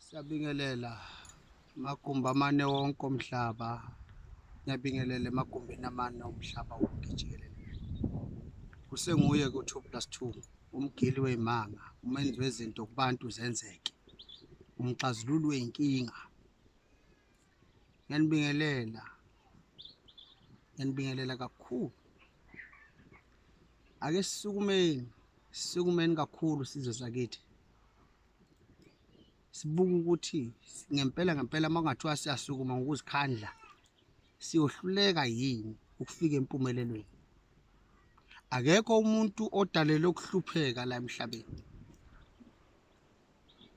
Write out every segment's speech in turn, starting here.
Siyabingelela magumbi amane wonke omhlaba ngiyabingelela emagumbini amane omhlaba wonke jikelele kusenguye ku-2 plus 2 umgili wey'manga umenzi wezinto kubantu zenzeke umxazululi wey'nkinga ngiyanibingelela ngiyanibingelela kakhulu ake sisukumeni sisukumeni kakhulu sizwe sakithi sibuke ukuthi ngempela ngempela uma kungathiwa siyasukuma ngokuzikhandla siyohluleka yini ukufika empumelelweni akekho umuntu odalelwe ukuhlupheka la emhlabeni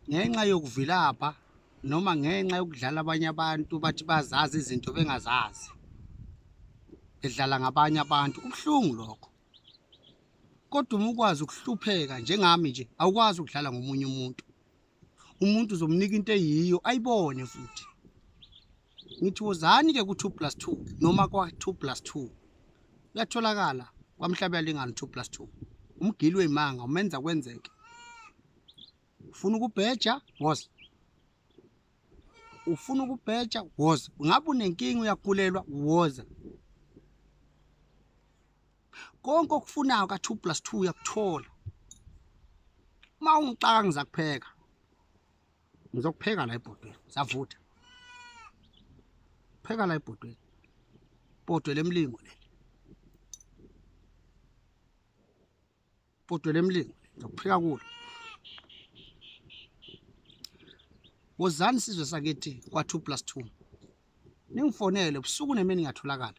ngenxa yokuvilapha noma ngenxa yokudlala abanye abantu bathi bazazi izinto bengazazi bedlala ngabanye abantu kubuhlungu lokho kodwa uma ukwazi ukuhlupheka njengami nje awukwazi ukudlala ngomunye umuntu umuntu uzomnika into eyiyo ayibone futhi ngithi wozani ke ku2 plus 2 noma kwa2 plus 2 uyatholakala kwamhlabe yalingana 2 plus 2 umgili weyimanga umenza kwenzeke ufuna ukubheja woza ufuna ukubheja woza ngabe unenkinga uyagulelwa woza konke okufunayo ka 2 plus 2 uyakuthola uma ungixaka ngizakupheka ngizokupheka la ebhodweni savutha pheka la ebhodweni bhodwe lemlingo le Kodwa lemlingo ngizokuphika kulo. Wozani sizwe sakithi kwa 2 plus 2. Ningifonele ubusuku nemini ngiyatholakala.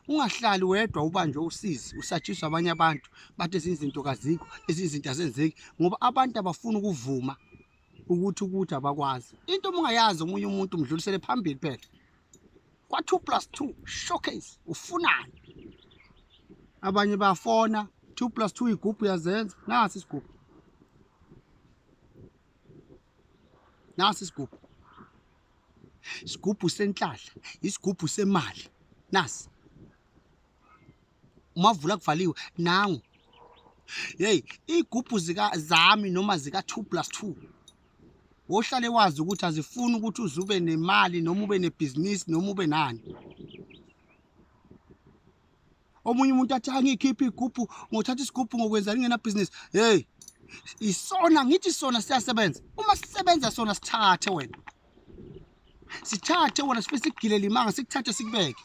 Ungahlali wedwa ubanjwe usizi usatshiswa abanye abantu bathi izinto kazikho izinto azenzeki ngoba abantu abafuni ukuvuma ukuthi ukuthi abakwazi into uma ungayazi omunye umuntu umdlulisele phambili phela kwa-two plus two showcase ufunani abanye bafona two plus two igubhu yazenza nasi isigubhu nasi isigubhu isigubhu senhlahla isigubhu semali nasi umavula kuvaliwe nangu yeyi iy'gubhu zami noma zika-two plus two wohlale wazi ukuthi azifuni ukuthi uze ube nemali noma ube nebhizinisi noma ube nani omunye umuntu athi angiyikhiphe igubhu ngothatha isigubhu ngokwenzani ngenabhizinisi heyi isona ngithi sona siyasebenza uma sisebenza sona sithathe wena sithathe wena sife sigilele imanga sikuthathe sikubeke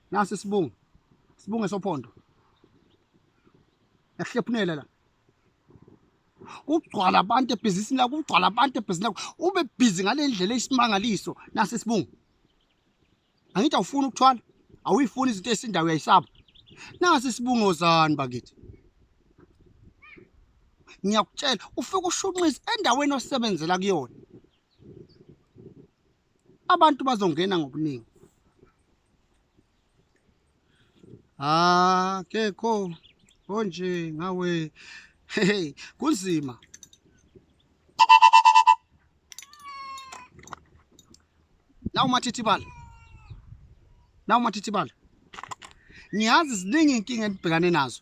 nasi sibungu sibunge sophondo yahlephunela la kugcwala abantu ebhizinisini lakho kugcwala abantu ebhizinisini lakho ube bhizi ngale ndlela eyisimangaliso nasi sibungu angithi awufuni ukuthwala awuyifuni izinto esindawo uyayisaba nasi sibungozani bakithi ngiyakutshela ufike ushunqise endaweni osebenzela kuyona abantu bazongena ngobuningi Ah, kekho konje ngawe. Hey, kunzima. Nawu mathithibala. Nawu mathithibala. Ngiyazi ziningi inkinga enibhekane nazo.